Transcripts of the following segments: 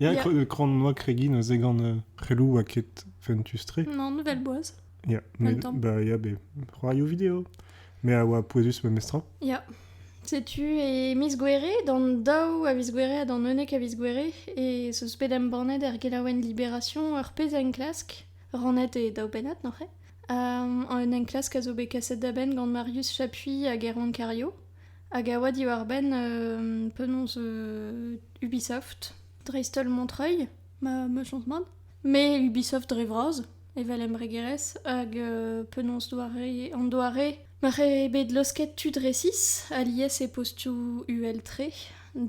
Ya, Ya. kre- kran noa kregiñ neuze gant euh, prelou oa ket fentus-tre. Non, nouvelle boise. Ya, En même temps. mais, bah, ya, ben, c'hoarioù vidéo. Mais a oa pouezus memes tra. Ya. Setu e miz Gouere, d'an daou a viz Gouere ha d'an unnek a viz Gouere, e zeus bet embannet er gelaouenn Libération ur pezh enklask, rannet e daou pennad, noc'h eo. Um, un enklask a zo bet kaset da benn gant Marius Chapuis hag Erwan Cario, hag a oa diwar-benn um, penaos euh, Ubisoft, dreist-holl Montreuil, ma, ma chans mat. Mais Ubisoft dre vras, evel embregerezh, hag euh, penaos doare, an doare ma c'he bet losket tud resis alies e postoù UL3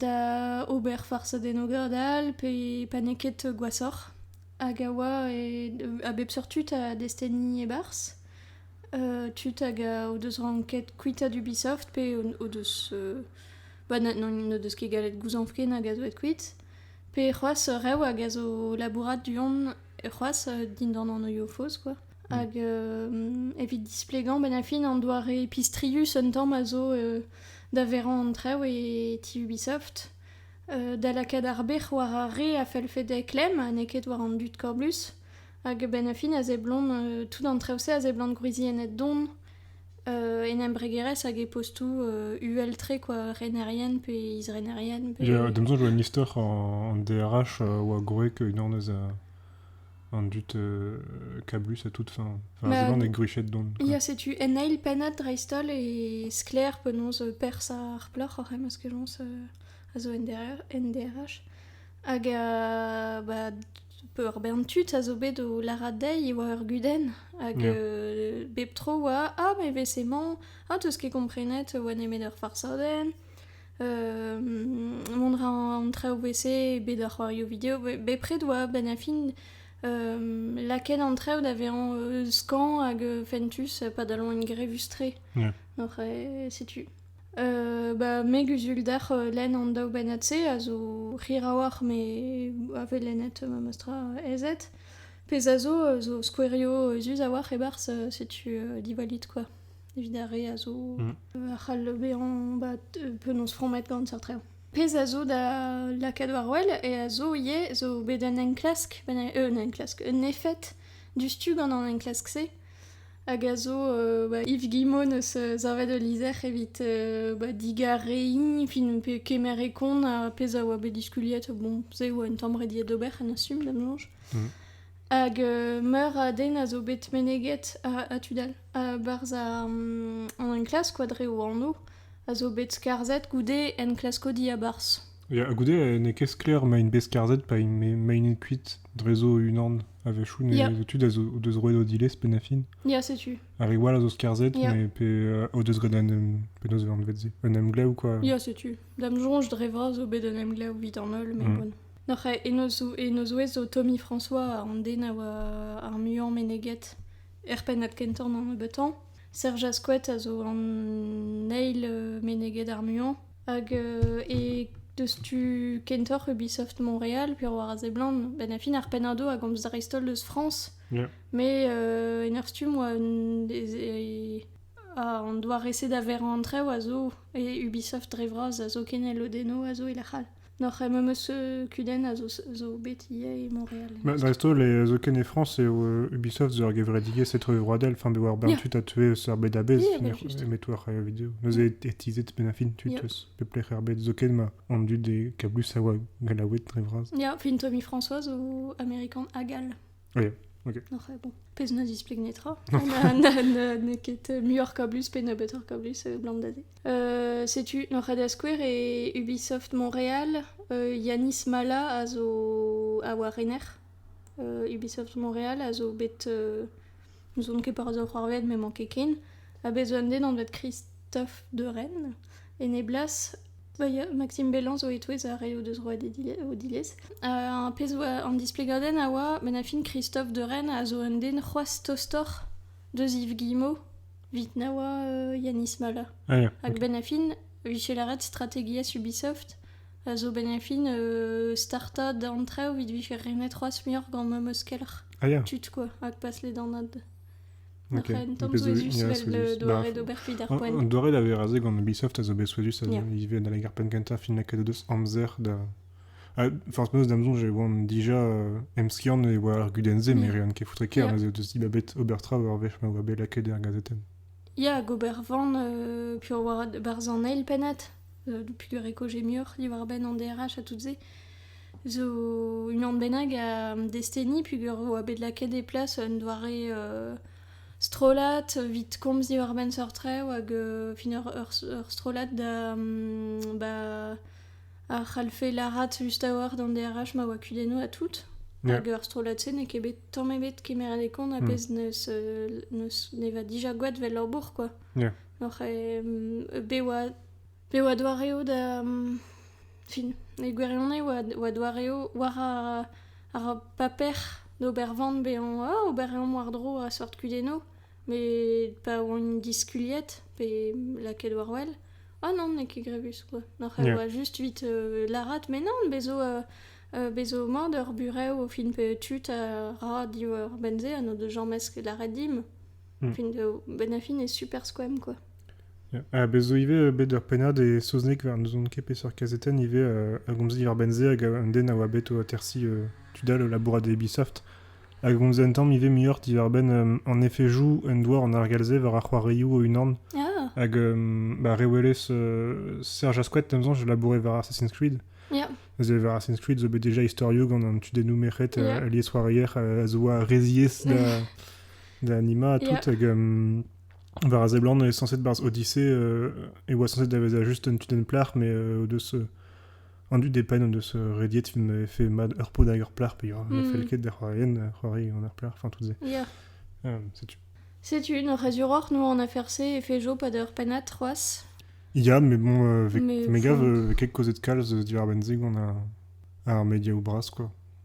da ober farz den ogredal pe pa n'eo ket gwasoc'h hag a oa e, a bep seurt tud a desteni e-barzh euh, tud hag a o deus ranket kuitaat Ubisoft pe o, o deus euh, Ba n'o deus ket gallet gouzañv ken hag a zo aet kuit. Pe c'hoazh rev hag a zo labourat du-hont c'hoazh dindan an oioù faos quoi. Mm. Hag euh, evit displegañ, ben a fin an doare pistrius un tamm a zo euh, da verañ an trev e ti Ubisoft. Euh, da lakaat ar bec'h war ar re a fell fede klemm ha n'eo ket war an dud koblus. Hag ben a fin a zeblont, tout an trev-se a zeblont gwriziennet don En embregerezh hag e postoù uhel-tre quoi, renerien pe isrenerien. D'am soñj e vo un istor an DRH a oa gwreg unan eus an dud kablus à toute fin. Enfin, a seblant e gruchet don. Ya, setu en eil pennad dreist-holl e sklaer penaos perzh ar plac'h oc'h em eus kejañs a zo en DRH. Hag ba, Peurbern tud a zo bet o lârat dezhi e oa ur gudenn hag yeah. euh, bep tro oa ah mais emañ ah t'eus ket komprenet oa nemet ur farsadenn euh, mont ra an traoù wc bet ar c'hoarioù video bepred oa benn a fin euh, laket an traoù da vezañ euh, skan hag fentus padalon en grevustre yeah. setu Ba me 'guzul dec'h lenn an daou bennad-se a zo hirrawalc'h me a vez lennet memes tra ezed. Pezh a zo zo skouerioù ezus a-walc'h e-barzh setu diwallit kwa. Evit ar re a zo a c'hall bezañ ba penaos frammet gant seurt reoù. Pezh a zo da lakaat war wel e a zo ivez zo bet un enklask, un enklask, un efed diouzhtu gant an enklask-se. hag a zo ba Yves Guimon eus savet ul lizher evit ba digarein fin pe kemer e kont ar pezh a oa bet diskuliet bon se e oa un tamm rediet d'ober en assume da menañch hag meur a den a zo bet meneget a tud all a-barzh an enklask kwa dre o anv a zo bet skarzhet goude enklaskodi a-barzh Ya, goude n'eo ket sklaer ma int bet skarzhet pa ma int kuit drezo unan a-wechoù ne tud a zo o deus roet o dilez pe na fin. Ya, setu. Ar re all a zo skarzhet mais pe euh, o deus graet un penaos eo anvet se un emglev quoi. Ya, setu. D'am soñj dre vras zo bet un emglev evit an holl mais mm. bon. Noc'h e no zouez zo Tommy François an den a oa ar muiañ meneget er pennad kentan an nebeutan. Serge Asquet a zo an eil euh, meneget ar muiañ. Hag e deus tu kentoc'h Ubisoft Montréal pe war a seblant ben a fin ar pennado a gomz dreist-holl deus France. Yeah. Mais euh, en ur stumm oa un des- a- an doare-se da verañ an traoù a zo e Ubisoft dre vras a zo ken e lodennoù a zo e lec'h all. Noc'h em eus kudenn a zo bet ivez e Montréal. Ba dresto, les Oken e France et Ubisoft zo ar gevredigezh etrevroadel, fin bet war bern tud a teu eus ar bed a-bezh, emet war ar video. Neuze e teizet ben a fin tud eus peplec'h ar bed zoken ma on dut e kablus a oa gallaoued dre vras. Ya, fin Tommy François zo Amerikan hag all. Oui, ok. Après, bon, pezh ne displike netra. N'eo ket euh, muioc'h kablus pe nebeutoc'h kablus euh, Blandade. Euh, setu Norada Square et Ubisoft Montréal. Euh, Yanis Mala a zo a oa rener Ubisoft Montréal a zo bet N'ouzon ket pa zo c'hoarvezet m'emañ ket ken. Ha bez' un den anvet Kristof de Rennes, en e blas, va ya- Maxime Bellin zo e-touez ar re o deus roet e dile- o dilez. Ha un pezh 'oa an displegadenn a oa, met na fin Kristof de Rennes a zo un den c'hoazh tostoc'h deus Yves Guillemot, evit na oa euh, Yanis Mala. Ah, ya. Hag benn a fin, 'vije lâret strategiezh Ubisoft. a zo benn fin startañ d'an traoù evit vije renet c'hoazh muioc'h gant ma meus kelc'h. Ah ya. Tud quoi, hag pas ledanaat. Ok. Un tamm souezhus evel doare d'ober evit ar poent. An doare da vez razet gant Ubisoft a zo bet souezhus a zo ivez da leg ar penn kentañ fin lakaet o deus amzer da... Forzh penaos d'am soñj e oan dija emskiant e oa ar gudenn-se mm. me rean ket foutre ker yeah. ez eo bet ober tra war wech ma oa bet lakaet er gazetenn. Ya, hag ober van, euh, puis oa barzh an eil pennad. Doupit ur ekoje muioc'h diwar-benn an DRH ha tout-se zo unan bennak a desteni peogwir e oa bet lakaet e plas un doare strollad evit komz diwar-benn seurt traoù hag fin ur strollad da ba a c'hallfe lârat just a-walc'h d'an DRH ma oa kudennoù ha tout. Hag ur strollad-se n'eo ket bet tamm ebet kemeret e kont a-bezh neus ne va dija gwad 'vel labour kwa. Ya. Oc'h be oa, be oa doareoù da, fin, e gwirionez oa, oa doareoù war ar, ar paper d'ober van bezañ, ah, oberiañ war-dro a-seurt kudennoù, met pa oant diskuliet pe lakaet war-wel, ah non, n'eo ket grevus, quoi. Oc'h e oa just evit lârat, mais non, bez zo, bez zo mat ur burev o fin pe tud a ra diwar-benn-se ha n'o deus james ket lâret dimp. Mm. Fin de, ben a fin est super squam quoi. Ah, bez zo ivez euh, bet ur pennad e saozneg war n'ouzon ket peseurt kazeten ivez euh, a gomzi war benze hag un den a oa bet o atersi euh, tudal au labourat de Ubisoft a gomzi un tamm ivez muioc'h diwar-benn en effet joue un doar en argalze war ar c'hoarioù o unan ah. hag ba re welez Serge Asquet nemzañ je labourais war Assassin's Creed yeah. War Assassin's Creed zo bet déjà historio gant un tudennoù merc'hed yeah. lies c'hoarier a zo a rezies da da anima tout hag war a seblant on est censé barzh Odyssey et oa censé davezañ juste un tunnel plart mais de se an dud e paen on deus rediet fin e fait mad ur pod hag ur plart pe ur mm. fel ket d'er c'hoarien c'hoari an ur plart enfin tout se yeah. um, setu Setu une résuror, nous on a fercé et fait jo pas d'heure penat roas. Ya, mais bon, euh, avec mes gars, euh, avec quelques causes de calze d'Ivar Benzig, on a un média ou brasse quoi.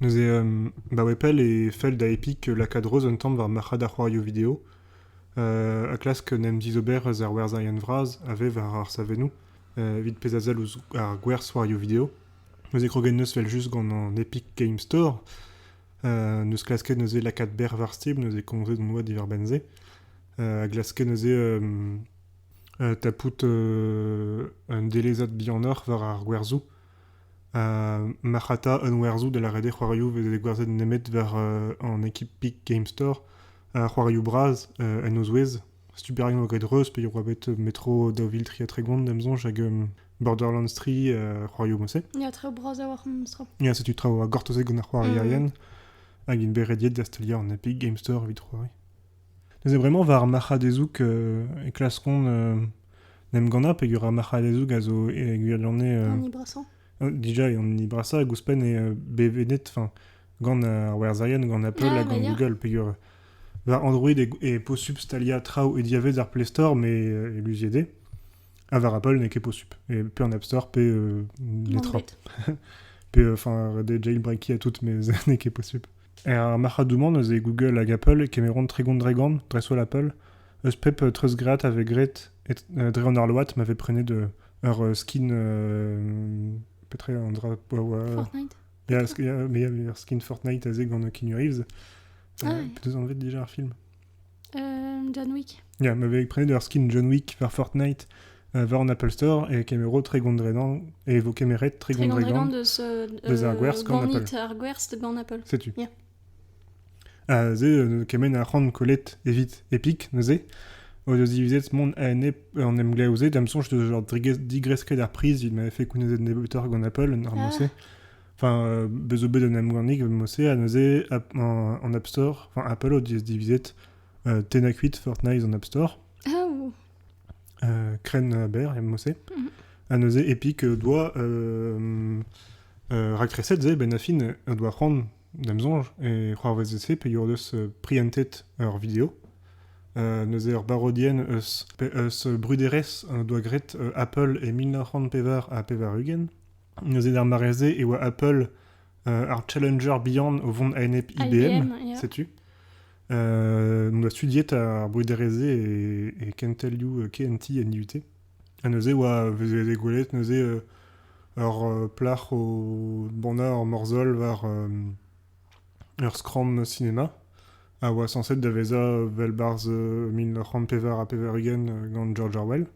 Neuze baoe pell e fell da Epic lakaat reuz un tamm war marc'had ar c'hoarioù video ha klask en em dizober eus ar werzherien vras a vev war ar savennoù evit pezh a sell ouzh ar gwerzhoarioù video. Neuze kroget 'neus 'vel-just gant an Epic Game Store, neus klasket neuze lakaat berr war stib, neuze komzet hon boa diwar-benn se, a glaske neuze tapout un delezad bihanoc'h war ar gwerzhoù. Marc'hata un werzhoù da lâret eo c'hoarioù vez degouezhet nemet war an ekip Peak Game Store. c'hoarioù bras en o zouez. Super Nintendo get Reus peogwir oa bet metro daou vil tri ha tregont d'am soñj hag Borderlands 3 c'hoarioù mousset. Ya, traoù bras a-walc'h memes tro. Ya, setu traoù a gortozet gant ar c'hoarierien. Hag int bet rediet da steuliañ an Epic Game Store evit c'hoari. Neuze bremañ war ar marc'hadezoug e klaskont en em gannañ peogwir ar marc'hadezoug a zo e gwirionez... An hini brasañ Dija eo an hini brasañ hag ouzhpenn eo bevennet gant ar werzherien, gant Apple ha gant Google peogwir war Android e posupl staliañ traoù e diavaez ar Play Store met e luziet eo ha war Apple n'eo ket posupl, pe an App Store pe les trains. Pe jailbreakiñ ha tout, met n'eo ket posupl. Er marc'hadoù-mañ neuze Google hag Apple e kemeront Tregon-Dregan, dreist-holl Apple, eus pep treuzgraet a vez graet dre an arload ma vez prenet ur skin... petra eo un dra... Fortnite Ya, ur skin Fortnite aze gant Keanu Reeves. T'as anvet déjà ar film John Wick. Ya, ma vez prenet ur skin John Wick war Fortnite euh, war an Apple Store et Camero très gondréland et vos Cameret très gondréland deus euh, deus ar gwerz gant Apple. ar gwerz gant Apple. Setu. Yeah. Ah, ze, euh, kemen a c'han kollet evit Epic, neuze. O deus divizet mont a ene en em glaouzet, am sonch deus genre digresket ar priz, il m'avait fait kounezet nebeutoc'h gant Apple, normalement ah. c'est. Enfin, bez zo bet un emgannig mod-se ha neuze en App Store, enfin Apple o dividit euh, 8 Fortnite en App Store. Oh. Euh, crène Bear, et mossé. Mm À neuze Epic doit euh, euh, racresset ze ben afin doit prendre dem zonge et croire VZC pe yor deus prientet ur vidéo. Euh, neuze ur barodien eus, eus bruderes doa gret Apple e 1900 pevar ha pevar ugent. Neuze d'ar mare-se e oa Apple ar challenger bihan o vont a-enep IBM, setu. Euh, on doit studier ar bruderezé et, et can tell you euh, KNT and UT. Ha neuze oa vous avez dégoulé neuze euh, ur euh, plac'h au bandar or morzol war euh, Ur skramm sinema a oa sañset da vezañ evel barzh mil nav c'hant pevar ha pevar-ugent gant George Orwell.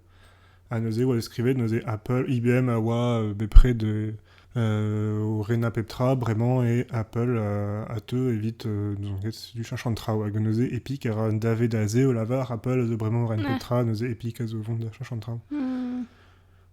Ha neuze e oa skrivet neuze Apple, IBM a oa bepred o renañ pep tra bremañ e Apple a teu evit n'ouzon ket setu cheñch an traoù hag neuze Epic a ra un dave da se o lavar Apple a zo bremañ o ren pep tra neuze Epic a zo o vont da cheñch an traoù.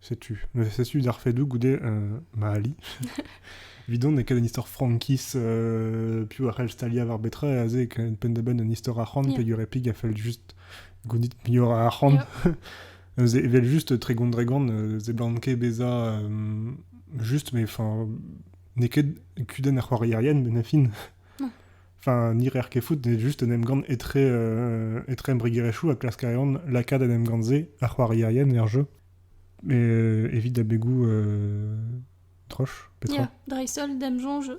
Setu, setu d'ar fedoù goude ma ali. Vidon e ket un istor frankiz euh, piv a c'hell staliañ war betra a ze penn-da-benn un istor arc'hant yeah. pegur replik a fell just gounit mior a arc'hant. Yeah. evel juste tregont-dregont euh, ze blanke beza euh, juste, mais enfin n'eo ket kudenn ar c'hoariarien, ben a fin. Enfin, ni rer ket fout, just en emgann etre, euh, etre embregerezhioù a klask a reont lakaat en emgann-se ar c'hoarierien er jeu. Mais euh, évite d'abegoù euh, troche, petra. Yeah, dreisol damjon jeu.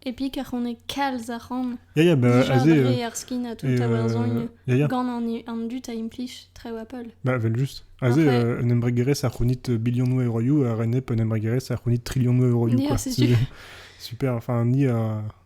Et puis, car on est calz a ran. Ya, ya, bah, azé... Jarre ar skin à tout à werzogn. Gant an, an dut a implich trew Apple. Bah, vel just. Azé, euh, un embregerez a c'hounit bilionoù euroioù, a renep un embregerez a c'hounit trillionoù euroioù, quoi. Super, enfin, ni a...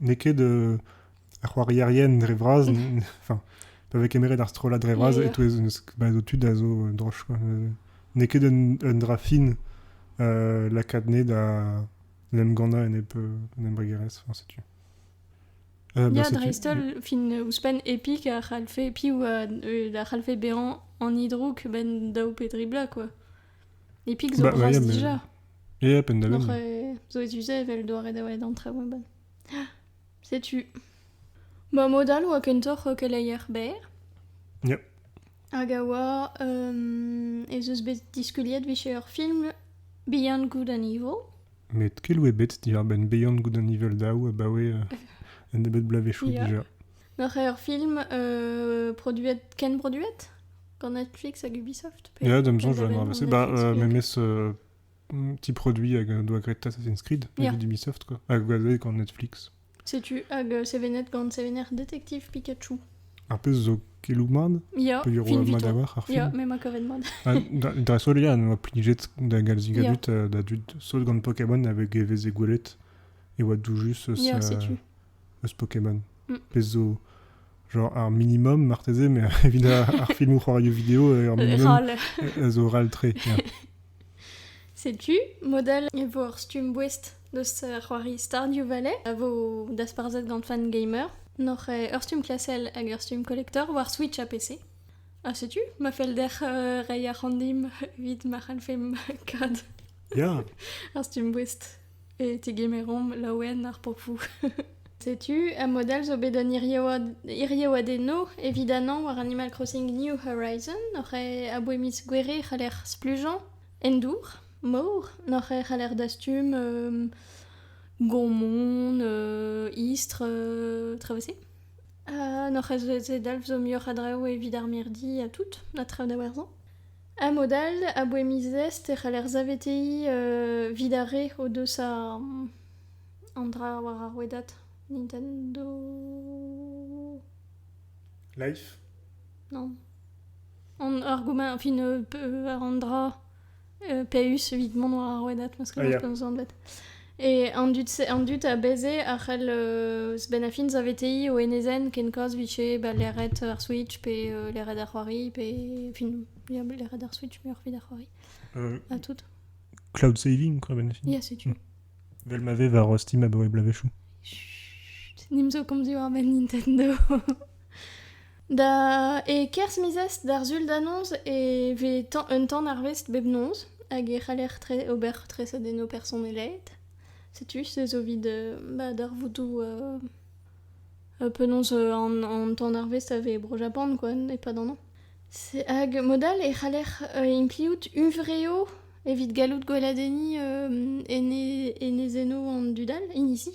n'eo ket ar c'hoarierien dre vras, enfin, pa vez kemeret ar strollad dre vras, e-touez o tud a zo droch. N'eo ket un dra fin lakaat nez da l'emgannañ enep un embregerezh, setu. Ya, dreist-holl, fin ouzhpenn, Epic a c'hallfe, piv a c'hallfe bezañ an hidrouk ben daou pe dri bloaz, quoi. Epic zo bah, bras déjà. Yep, Donc, euh, zo utilisé evel doare da welet an traoù eban. Setu. Ba modal oa kentoc'h keleier berr. Yep. Hag a oa um, ez eus bet diskuliet vije ur film Beyond Good and Evil. Met kel oe bet diar ben Beyond Good and Evil daou abaoe uh, un ebet blave chou yeah. déjà. N'oc'h ket ur film produet, ken produet gant Netflix hag Ubisoft Ya, da me soñj va avancer. Bah, euh, memes euh, petit produit hag doa graet Assassin's Creed, yeah. d'Ubisoft, quoi. Hag gant Netflix. Sais-tu, hag euh, sevenet gant sevener Détective Pikachu. Ar pezh zo kelou mad? Ya, fin madavar ar film. Ya, me ma kavet mad. Da sol ya, noa plijet da galzi gadut da dud sol gant Pokémon hag e veze gwelet e oa doujus eus... Ya, sais-tu. eus Pokémon. Mm. Pezh zo genre ar minimum marteze, mais evit ar filmoù c'hoarioù vidéo, ar minimum a zo raltré. Setu model e vo ar stumm boest deus c'hoari Stardew Valley a vo dasparzhet gant fan gamer. Noc'h eo ur stumm klasel hag ur stumm collector war Switch ha PC. Ha setu, ma fell dec'h uh, rei ar randim evit ma c'hallfemp kad ar stumm boest. e tegemeromp laouen ar popoù. Setu, a modell zo bet un iriaouadennoù evit anañ war Animal Crossing New Horizon, oc'h aboe miz Gouere e c'haller splujañ en dour, mor, oc'h e c'haller dastum um, gommon, uh, istr, uh, traoù eus-se. Ha n'oc'h ez edalv zo muioc'h a draoù evit ar mirdi ha tout, ha traoù da werzhañ. A mod all, aboe miz Est e c'haller saveteiñ evit ar re o deus an dra war ar rouedad Nintendo... Life? Non. Ar gomañ, enfin, war an dra Peus evit mont war ar rouedad, ma skoaz penaos 'zo anvet. E an dud, an dud a bez-se a c'hell euh, eus benn a fin saveteiñ o enezenn kenkaz vije ba leret ar Switch pe euh, leret ar c'hoari pe fin ya, leret ar Switch muioc'h evit ar c'hoari Euh, ha tout. cloud saving, quoi, ben Ya, setu. Mm. Vel ma ve war euh, Steam abaoe blavezhioù. Chut, Nimp zo komz diwar-benn Nintendo. Da... e-kerzh miz d'ar sul da noz e vez tan- un tan arvest bep noz hag e c'haller tre- ober treset en ho personeled. Setu, se zo evit euh, bah, darvoudoù euh, euh, penaos euh, an, an tan arvest a vez e Bro-Japan, quoi, e-pad an an. C'est- Hag mod all e c'haller euh, impliout huñvreo evit gallout gweladenniñ euh, ene- enezennoù an dud all, inizi.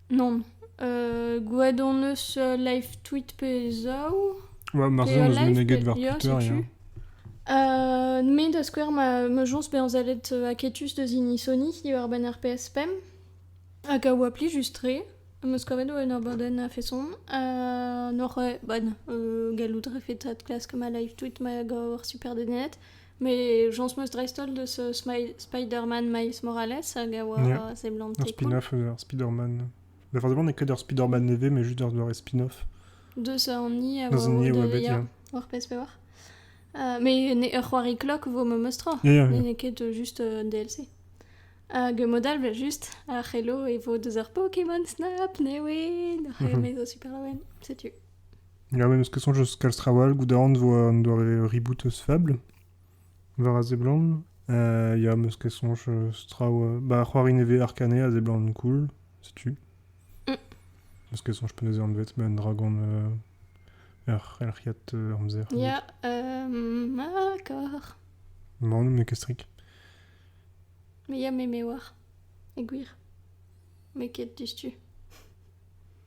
Non. Euh, gwraet hon eus euh, live tweet pe zaou. Ouais, marzhin eus meneget war Twitter, ya. Euh, me da skouer, ma, ma joñs bezañ zalet euh, aketus deus hini Sony diwar-benn RPS PEM. Hag a oa pli just-tre. Am eus kavet oa un abadenn a-feson. Uh, nor e, bon, uh, gallout refetat klask ma live tweet ma gav ar super denet. Mais j'en suis dreistol de ce Spider-Man Miles Morales hag a oa yeah. seblanté spin-off euh, Spider-Man. La fin n'est que d'un Spider-Man élevé mais juste dans un spin-off. De ça on y a dans un de ouais, yeah. War PSP war. Uh, mais ne ur c'hoari klok vo me meustra. Yeah, yeah, ne ket juste un DLC. Hag modal juste ar c'helo e vo deus ar Pokémon Snap, ne we, ar c'helo mhm. super loen, setu. Er memes keson eus kalz traoù all goudarn vo an doare reboot eus Fable war a seblant. Euh, ya, meus ket soñj eus traoù... Bah, c'hoari nevez Arcane a seblant cool, setu. Mm. Meus ket soñj penaos eo anvet, met un dragon euh, er- erc'hiat euh, amzer. Ya, um, d'accord. Bon, met kestrik. Mais ya, me me war. E gwir. Me ket diouzhtu.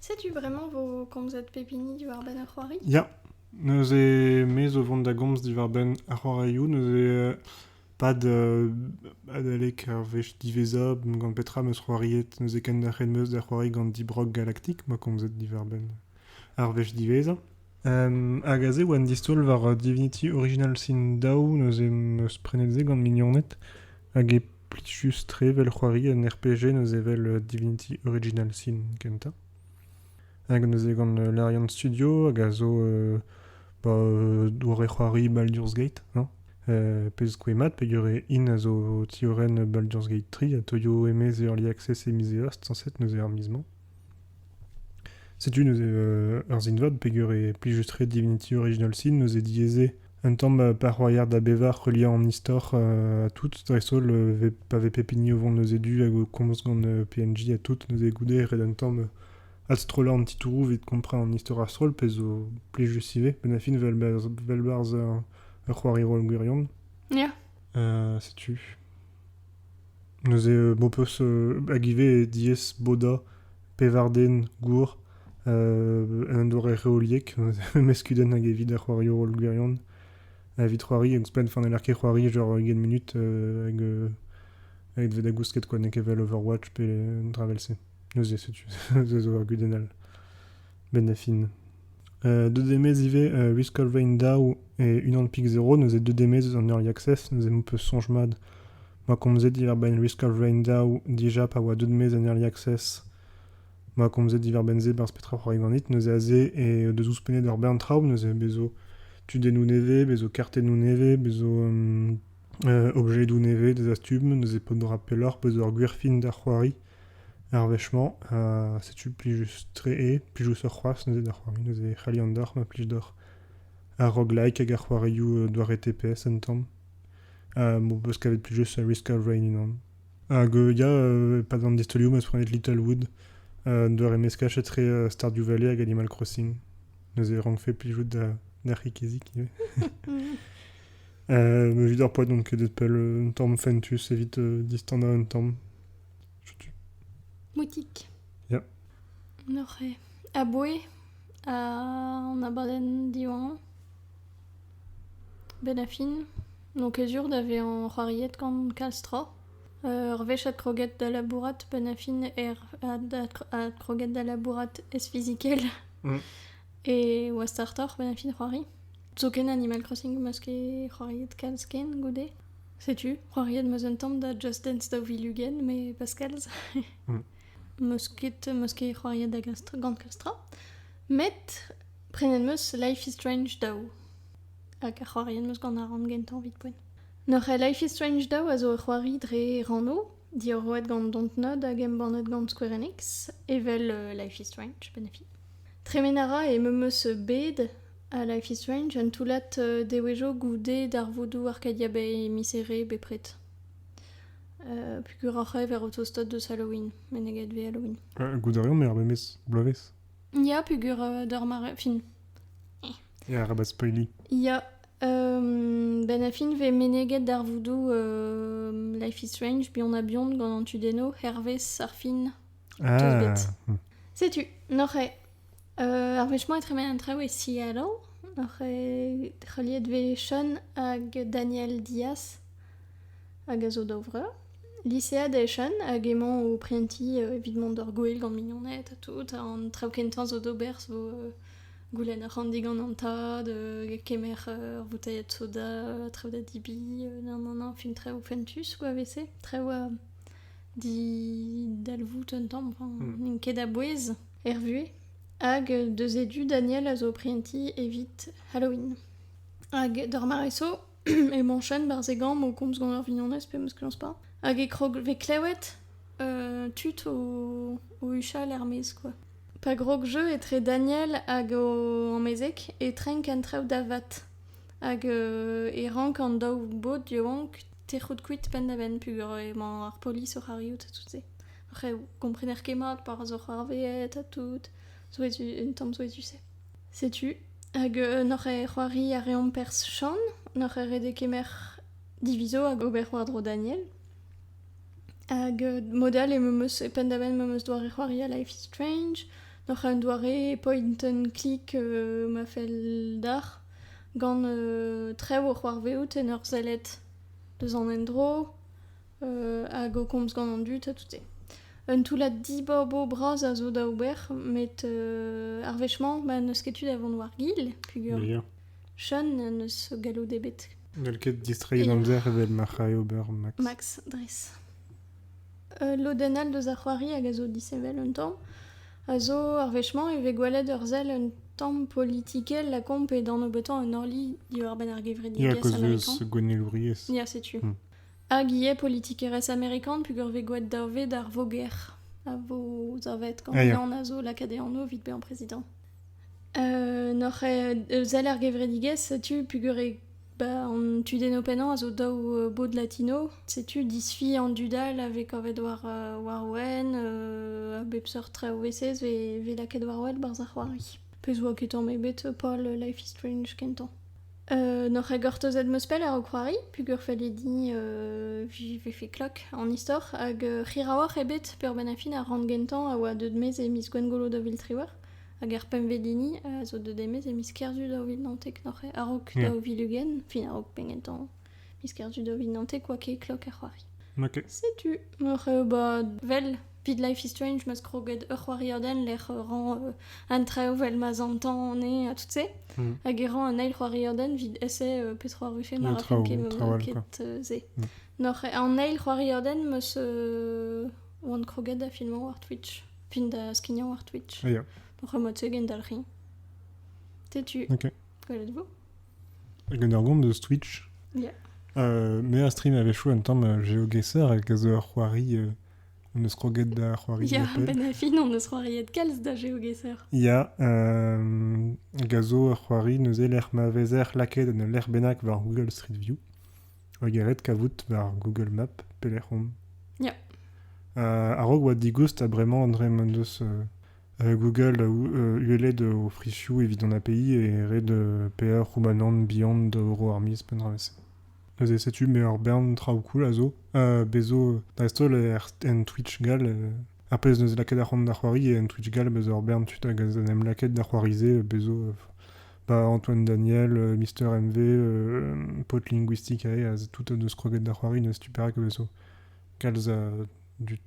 Setu bremañ 'vo komzet pep hini diwar-benn ar c'hoari. Ya, neuze me zo vont da gomz diwar-benn ar c'hoarioù, neuze euh, pad euh, adalek ar wech diwezhañ gant petra 'm eus c'hoariet, neuze ken nac'het 'm eus da c'hoari gant Deep Rock Galactic 'ma komzet diwar-benn ar wech diwezhañ. Hag aze e oa un distaol war Divinity Original Sin daou, neuze em eus prenet se gant mignoned, hag e plijus-tre evel c'hoari un RPG neuze evel Divinity Original Sin kentañ. Hag neuze gant Larian Studio, hag a zo ba doare-c'hoari Baldur's Gate, hañ? pezh 'skoe mat peogwir hin a zo tiorenn Baldur's Gate tri, ha toio hennezh e early access e miz Eost sañset neuze ar miz-mañ. Setu neuze ur sin-vad peger e plijus-tre Divinity Original Sin neuze diaes eo un tamm parc'hoarier da bevañ heuliañ an istor ha tout dreist-holl pa vez pep hini o vont neuze du hag o komz gant PNJ ha tout neuze goude ret un tamm adstrollañ an titouroù evit kompren an istor a-stroll pezh zo plijus ivez benn ar fin vel 'barzh ur c'hoari roll gwirion. Setu. Neuze m'ho peus hag ivez diaes bodañ pevar den gour en doare reoliek, memes kudenn hag evit ar c'hoarioù holl gwirion. Evit c'hoari ouzhpenn, fa n'heller ket c'hoari genre ugent munut evit da gousket kwa n'eo ket evel Overwatch pe un dra 'vel-se. Neuze setu, se zo ur gudenn all 'benn da fin. Deuet eo maez ivez Risk of Rain Dow e unan pik zero, neuze deuet eo maez eus an Early Access, neuze m'ho peus soñj mat ma komzet diwar-benn Risk of Rain Dow dija pa oa deuet maez an Early Access, ma komzet diwar-benn-se berzh petra oc'h roiñ ganit, neuze aze eo deus ouzhpennet ur bern traoù, neuze bez' zo tudennoù nevez, bez' zo kartennoù nevez, bez' zo objedoù nevez, des astum, neuze paotr 'dora pelloc'h, peus ur gwir fin da c'hoari. Ar wech-mañ, setu plijus-tre eo, plijusoc'h c'hoazh neuze da c'hoari, neuze e c'hallan deoc'h ma plij deoc'h ar roguelike hag ar c'hoarioù doare TPS un tamm. M'ho peus kavet plijus Risk of Rain unan. Hag ya, e-pad an distolioù 'm eus prenet Little Wood, un doare meskaj-etre Stardew Valley hag Animal Crossing. Neuze e rankfe plijout d'ar c'hikizik ivez. Evit ar poa, donc Deadpool un tamm fentus evit distannañ un tamm. Setu. Moutik. Ya. Noc'he. Aboe. An abadenn diwañ. Benn a fin. N'on ket sur da vezañ c'hoariet gant kalz tra. Ur wech adkroget da labourat benn a fin er adkroget da labourat ez-fizikel e oa startoc'h benn a fin c'hoari. Zoken Animal Crossing 'm eus ket c'hoariet kalz ken goude. Setu, c'hoariet 'm eus un tamm da Just Dance daou vil ugent, mais Pascals. Meus ket, meus ket c'hoariet da glastra, gant klastra. Met prenet 'm eus Life is Strange daou. Hag ar c'hoariet 'm eus gant ar rann gentañ evit poent. Neuze Life is Strange daou a zo ur c'hoari dre rannoù, diorroet gant Dontnod hag embannet gant Square Enix, evel euh, Life is Strange, bennafi. Tremen a ra e me 'm eus bet Ha Life is Strange, un toullad devezhioù goude darvoudoù Arcadia Bay miserere bepred. Uh, puguroc'h eo ver o tostot deus Halloween, meneget vez Halloween. Uh, goût a reomp er memes bloavezh. Ya, pugur uh, d'ur mare... Fin. Ya, rabat spoiler. Ya, um, ben a fin vez meneget darvoudoù uh, Life is Strange, bion a bion gant an tu deno, hervez ar fin. Ah. Setu, noc'h eo Ar wech 'mañ e tremen an traoù e Seattle, oc'h heuliet 'vez Sean hag Daniel Diaz hag a zo daou vreur. Lisead eo Sean hag emañ o prentiñ evit mont d'ur gouel gant mignoned ha tout. An traoù kentañ zo d'ober zo goulenn arc'hant digant an tad, kemer ur voutailhad soda, traoù da debriñ, nananana, fin traoù fentus quoi 'vez-se. Traoù a didalvoud un tamm, n'int ket a-bouez. er vuhez, hag deus e du Daniel a zo o prientiñ evit Halloween. Hag d'ar mare-so emañ Chen barzhegañ o komz gant ar vignonez pe meus pas. Hag e krog vez klewet euh, tud o, o huchal er-maez quoi. Pa grog jeu etre Daniel hag o amezeg e trenk an traoù da vat. Hag euh, e rank an daou bod yaouank tec'hout kuit penn-da-benn peogwir emañ ar polis oc'h arriout ha tout se. Re gomprener ket mat pa ra zo c'hoarvezet ha tout. Souezhu, un tamm souezhus-se. Setu, hag euh, n'oc'h ket c'hoari a reomp perzh Chan, n'oc'h ket ret kemer divizo hag ober war-dro Daniel. Hag euh, mod all e me eus penn-da-benn me eus doare c'hoari a Life is Strange. N'oc'h un doare point click euh, ma fell d'ar gant euh, trev o c'hoarvezout en ur sellet deus an endro hag o komz gant an dud ha tout-se. Un toullad dibobo bras a zo da ober, met ar wech-mañ ma n'eus ket tu da vont war-gil, pugur. Sean n'eus galloud ebet. N'hell ket distreiñ d'amzer evel ma c'hrae ober Max. Max, dres. Ul lodenn all deus ar c'hoari hag a zo disheñvel un tamm, a zo ar wech-mañ e vez gwelet ur sell un tamm politikel lakaomp e dan nebeutan un orli diwar-benn ar gevredigezh américain. Ya, a cause gwennellouriezh. Ya, setu. Hmm. Hag ivez politikerezh amerikan peogwir 'vez gwraet dave d'ar voger a vo savet gant Ah, ya. an a zo lakaet e anv evit bezañ prezidant. N'oc'h eh sell er gevredigezh setu peogwir eo ba an tudennoù pennañ a zo daou bod latino. Setu disfi an dud all a vez kavet war Warwenn a bep seurt traoù eses 'vez lakaet war wel 'barzh ar c'hoari. Pezh 'oa ket tamm ebet Paul Life is Strange kentañ. Euh, N'oc'h ket gortozet meus pell ar c'hoari, pugur-felle din euh, vi vefe klok an istor, hag euh, c'hiraouoc'h ebet peurbenn a fin ar rann gentañ a oa deuet mez e miz Gwengolo daou vil triwec'h, hag ar pemvedini a zo deuet e mez e miz Kerzu daou vil naontek, noc'h eo, a-raok Yeah. daou vil ugent, fin a-raok penn gentañ. Miz kerzu do vit nante kwa ket klok ar c'hoari. Ok. Setu, meur eo ba vel, pit Life is Strange m'eus kroget ur c'hoarierden lec'h ran euh, an traoù vel ma zantan ane ha tout se. Mm. Hag e ran un eil c'hoarierden vit essaie euh, petra rufe ma Un rafen traoù, ket, un traoù all, ket quoi. euh, se. Mm. Nor an eil c'hoarierden m'eus euh, oan kroget da filmañ war Twitch. Fin da skignañ war Twitch. Ah, ya. Nor mod se gen dalc'hin. Tetu. Ok. Gwelet vo Gant ur gont eus Twitch. Yeah. Euh, me a stream avait chou un temps euh, géoguesseur avec zo ur c'hoari euh, on eus kroget da c'hoari Ya, ben a fin on eus c'hoariet kalz da géoguesseur. Ya, euh, gazo ur c'hoari neuze lec'h ma vezer lakaet en ul lec'h bennak war Google Street View. Hag eret kavout war Google Map, pelec'h on. Ya. Euh, a-raok oa digoust ha bremañ André m'en deus euh, Google a uhellet o frizioù evit an API e red paeañ Roumanant bihan da Oro-Armies penn-draezh. Neuze setu me ur bern traoù cool a zo. Bez' zo dreist-holl en Twitch gall. Ar pezh 'neus lakaet ar c'hoant da c'hoari en Twitch gall, bez' ur bern tud hag a n'em lakaet da c'hoari-se. Bez' zo Antoine Daniel, Mister MV, Pod Linguistic aze, tout a neus kroget da c'hoari, neus tu perak e vezo. Kalz a dud.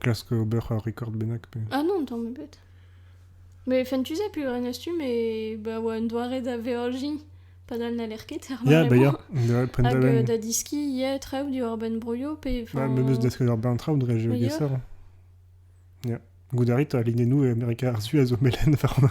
klask ober ur rekord bennak pe... Ah non, tamm ebet. Mais fentus a pu ren astu, mais bah, oa un doare da veorji padal n'aller ket ar yeah, bah, yeah. Hag euh, da diski yeah, traoù di urban broio pe... Bah, memes da sker ur bern traoù dre je geser. Yeah. Goudari, ta linenu e Amerika ar su a zo melen war an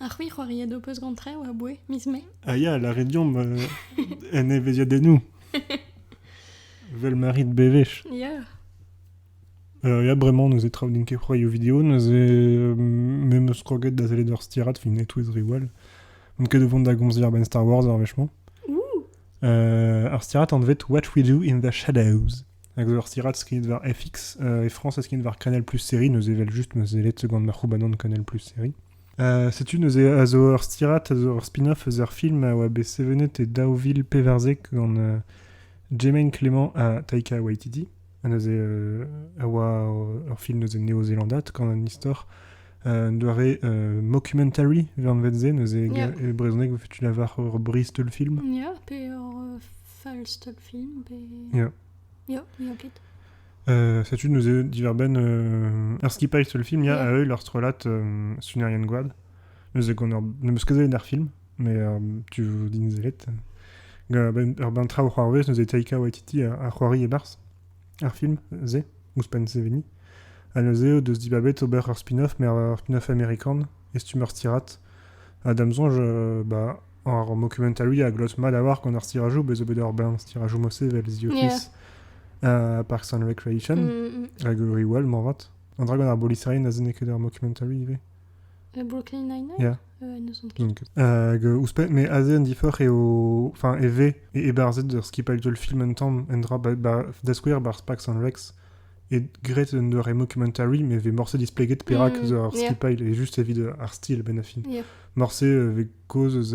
Ha c'hwi c'hoariet ho peus gant trev aboe miz Mae A ya, lârit deomp en evezhiadennoù. Vel ma rit bewech. Ya. Euh, ya, bremañ, neuze traoù n'int ket c'hoarioù video, neuze euh, me 'm eus kroget da sellet ur stirad film e-touez Rewall. N'on ket o vont da gomz diàr-benn Star Wars ar wech-mañ. Ouh. Euh, ar stirad anvet What We Do in the Shadows. Hag ur stirad skignet war FX. e France, e skignet war Canal Plus Série, neuze evel-just neuze elet gant ma c'houbanon Canal Plus Série. setu neuze a zo ur stirad, a zo ur spin-off eus ar film a oa bet sevenet e Daoville Peverzek gant Jemaine Clément ha Taika Waititi. neuze a oa ur film neuze néo-zélandat gant an istor un doare euh, mockumentary, vers neuze, yeah. e brezhoneg, tu la voir ur Bristol film. Yeah, pe ur euh, Feuilstopfilm pe... Ya. Ya, ya ket. Euh, Sais-tu nous est diverben euh, er skipailh le film, il y a à œil leur relate euh, Sunerian Guad. Nous est gonor ne meus ket der film, mais euh, tu din zelet. Ga ben ur ben traoù c'hoarvez nous est Taika Waititi a, a c'hoari e-barzh ar film ze, ouzhpenn se veni. Ha neuze o deus dibabet ober ur spin-off, mais ur spin-off américain, et si tu me retirat, à dame zonge, euh, bah, Ar mockumentary a glot mat a-walc'h gant ar stirajoù, bez' bet ur bern stirajoù mod sevel, The Office, uh, Parks and Recreation, mm, mm, mm. hag Rewell, moarvat. An dra gant ar bolisain a zen ket ur mockumentary ivez. Uh, Brooklyn Nine-Nine yeah. euh, Donc, hag euh, ouzhpenn, mais aze un diforc'h eo, enfin, e ve, e ebarzet ur skipailh film un tamm, un dra, ba, ba, da skouer, bar Parks and Recs, eo graet un doare documentary met vez morse displeget perak eus ar skipailh eo just evit ar stil benn fin morse vez kaoz eus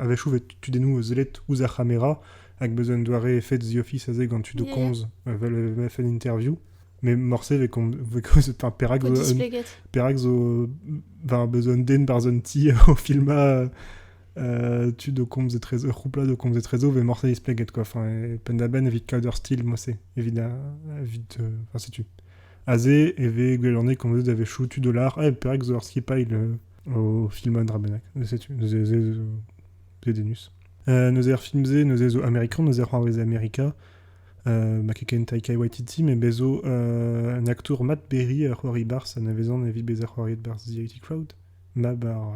a-wechoù vez tudennoù sellet ouzh ar c'hamera hag beus un doare efed The Office aze gant tud o komz evel FN interview met morse vez kaoz perak perak zo beus un den barzh un ti o filmañ tud o komz etrezo, ur c'houplad o komz etrezo vez morse displeget quoi. Enfin, penn-da-benn evit kaout ur stil morse, evit, evit enfin, setu. Aze e vez gwelane komzet da vez choutu dolar, eh, perak zo ur skipailh au film Drabenak. Setu, c'est des nus. Euh, nous er film ze, nous zo Amerikan, nous er c'hoarvez Amerika, euh, ma keken Taikai Waititi, mais bezo euh, un acteur Matt Berry a c'hoari bars, un avezan evi bez a c'hoariet bars The IT Crowd, ma bar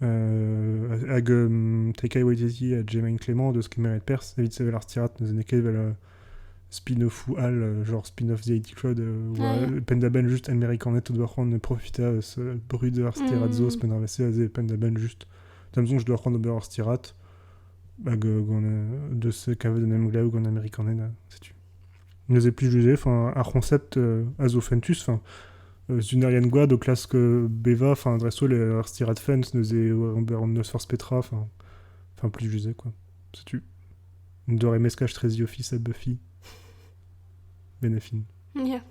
hag Tekai Waititi ha James Clement deus kemeret perzh evit sevel ar stirad neuze n'eo ket evel spin-offfoù all, genre spin-off The IT Crowd, war penn-da-benn juste Americanet o doa c'hoant profitañ eus brudañ ar stirad zo, penn ar vc aze penn-da-benn juste. Da mezon je doa c'hoant d'ober ur stirad hag gant deus kavet un emglev gant Americanet, setu. Neuze plijus eo, enfin, ar c'honsept a zo fentus, enfin, Sunerian Gwad o klask bevañ, enfin, dreist-holl er stirad Fence, neuze ober n'eus forzh petra, enfin, enfin plijus eo, quoi. Setu un doare meskaj très The Office ha Buffy. Benefin. Yeah.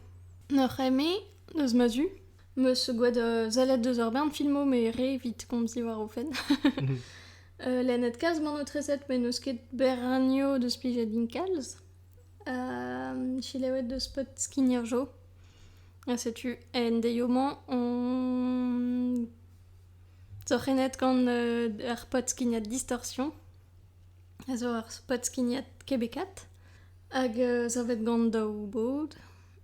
Noc'h eme, deus ma du, meus gwad uh, zalet deus ur bern filmo me re evit komzi war o fenn. uh, Len et kaz man o treset me n'eus ket berranio deus plijad din kalz, Selaouet 'deus paotr skigner-jo ha setu en deio-mañ on sorc'hennet gant ar paotr-skignad Distorsion a zo ur paotr-skignad kebekaat hag savet gant daou bod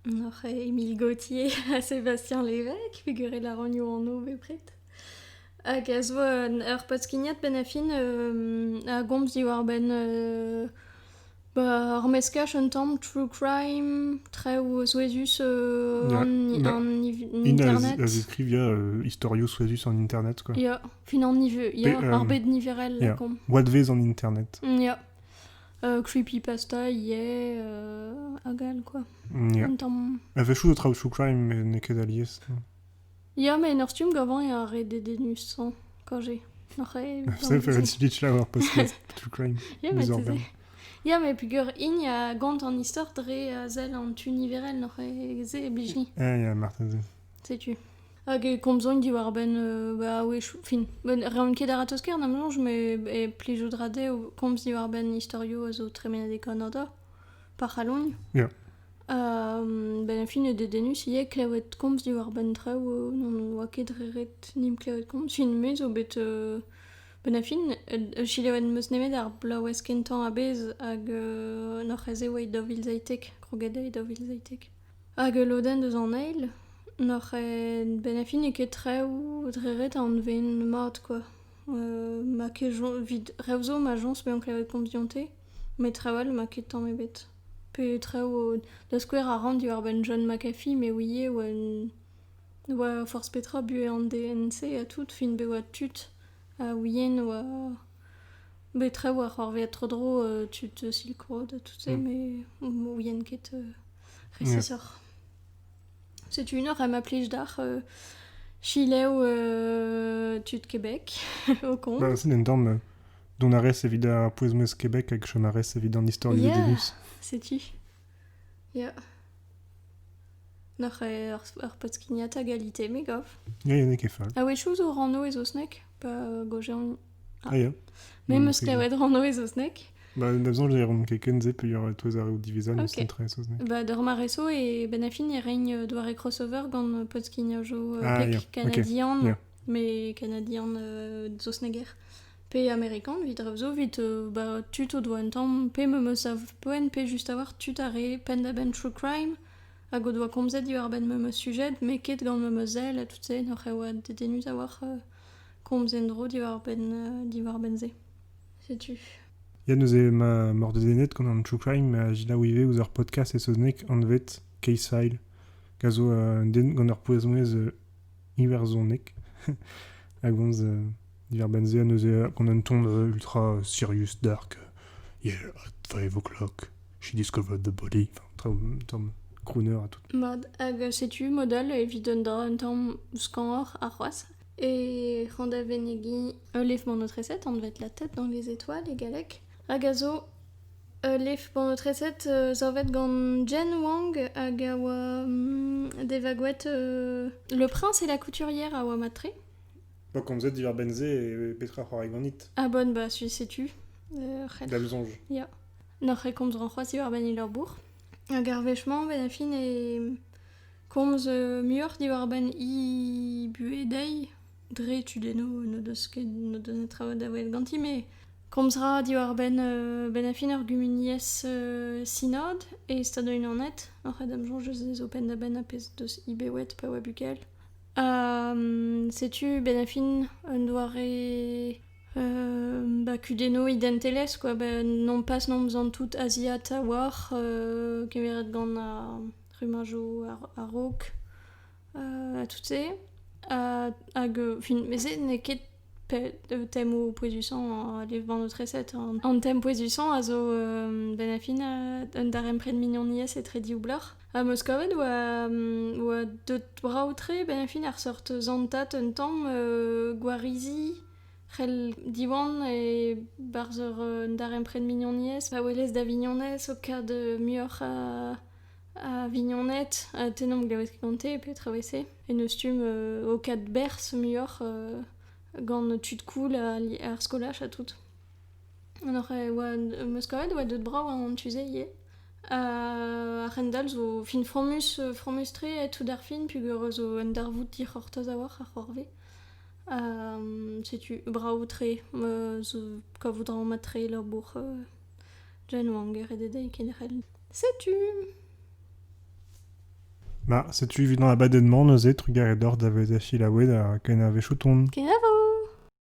oc'h eo Émile Gautier ha Sébastien Lévesque pegwir e lâranio anv bepred hag a zo ur paotr-skignad benn ar fin a gomz diwar-benn Ba ur meskaj un tamm true crime, traoù souezhus an internet. A ziskrivia istorioù souezhus en internet quoi. Ya, fin an niver, ya, ar bed niverel lakaomp. Oadvezh an internet. Ya, creepypasta, yeah, hag all quoi. Un tamm... A-wechoù zo traoù true crime met n'eo ket alies. Ya, ma en ur stumm gavañ eo ar re dedennus-hañ quand j'ai. Oc'h e- Sell faire une speech là war podcast, true crime. Ya, mais Bizarre tu sais. Ya, mais peger hini a gont an istor dre a sell an tu niverel n'oc'h e se e blij-ni, Ah, yeah, marteze. setu. Hag e komzogn diwar-benn, euh, bah oui, chou- fin, ben, reont ket a-ratozh ker na mlonj, mais e plijout ra dezho komz diwar-benn istorioù a zo tremenet e Kanada, pa c'hallogn. Yeah. benn ar fin eo dedennus ivez klevet komz diwar-benn traoù n' oa ket re ret n' imp klevet komz. Fin-me zo bet benn ar fin selaouet 'm eus nemet ar blaouez kentañ a-bezh hag n'oc'h aze oa e daou vil seitek, kroget e daou vil seitek. Hag ul lodenn deus an eil n'oc'h benn ar fin n'eo ket traoù dre ret a anveen mat kwa. ma ket evid rev zo ma jañs bezañ klevet komz dionte met traoù all ma ket tamm ebet. pe traoù da skouer a ran diwar-benn John McAfee me ouie e oa un ne oa forzh petra buhez an DNC ha tout fin bet oa tud a ouie ne oa bet traoù a c'hoarvez tro-dro tud Silk Road ha tout-se me ne ouien ket resisoc'h. Setu unor ha ma plij deoc'h chileoù tud Kebek, ho koñ. Bennañ un tamm Dont a rez evit ar pouez-mouezh Québec hag chom a rez evit an istor du Uranus. Setu. Ya. Noc'h eo ar, ar podskignata galite, me gav. Ya, ya, n'eo ket fall. A wechou zo rano e zosnek, pa gojean... Ah, ya. Me mm, meus kavet rano e zosnek. Ba, da besoin, j'ai ron kekenze, pe yor tout ar divizan, okay. sen tre zosnek. Ba, dor ma reso e benafin e rein doare crossover gant podskignajou uh, ah, yeah. canadian. Okay. Yeah. Mes Kanadian euh, saozneger pe Amerikan evit rev zo evit euh, bah, tud o doa un tamm pe me meus sav-poent pe just avoir tud ar re penn-da-benn true crime hag o doa komzet diwar-benn me meus sujet met ket gant me meus sell ha tout se n'oc'h e oa dedennus avoir euh, komz en-dro diwar-benn euh, diwar-benn se. Setu. Ya neuze ma mordedennet gant an true crime ma gelaou ivez ouzh ar podcast e saozneg anvet Case File. Gant ur pouezonez iwerzhoneg a gomz diwar-benn se neuze gant un ton ultra serious dark yeah five o'clock she discovered the body traoù un tamm crooner ha tout Mat, hag setu modal evit un dra un tamm skañvoc'h ha c'hoazh. E c'hañ da venegi ul lef-mañ notre 7 anvet La tête dans les étoiles e galleg, hag a zo Ul lef-paotr-treset savet gant Jen Wang hag a oa devagoet Le Prince et la Couturière a oa mat-tre. Bah, komzet diwar-benn-se e petra c'hoarai ganit? Ah bon, bah su- setu. ur c'helc'h. Da'm soñj. Ya. N'oc'h ket komzan c'hoazh diwar-benn he labour. Hag ar wech-mañ, ben a fin e komz euh, muioc'h diwar-benn he buhez dezhi. dre tudennoù n'o deus ket n'o deus netra da welet ganti met komz 'ra diwar-benn bennafi ar gumuniezh sinod e Stadoù-Unanet oc'h en em soñj eus dezo penn-da-benn a pezh deus Ibewet pa oa bukel setu bennafi un doare ba kudennoù identelezh quoi ba nompas n'omzan tout aziat a-walc'h kemeret gant ar rummajoù a-raok tout-se. hag, fin, met se n'eo ket temmoù pouezusañ, live-bann o treset. An tem pouezusañ a zo ben a fin un darempred mignoniezh etre div bloc'h. Ha Moskoved oa, oa deut brav-tre ben a fin ar seurt zantat un tamm gwarizi c'hell Diwan e barzh ur darempred mignoniezh pa welez da vignonez o kad muioc'h a Vignonette, tennomp gwask gante petra 'vez-se. En deus stumm ho kadberzh muioc'h gant tud cool ar skolaj ha tout. An oc'h oa am eus kavet e oa deut brav an tu-se ivez. A-hendall zo fin fromus fromus-tre tout ar fin peogwir zo un darvoud dic'hortoz a-walc'h ar c'hoarve. setu brav-tre, kavout a ra mat-tre labour. Janeway geret eo dezhi kenderc'hel. Setu Bah, setu evit an abadenn-mañ neuze, trugarez deoc'h da vezañ selaouet ha kenavo Chouton. Kenavo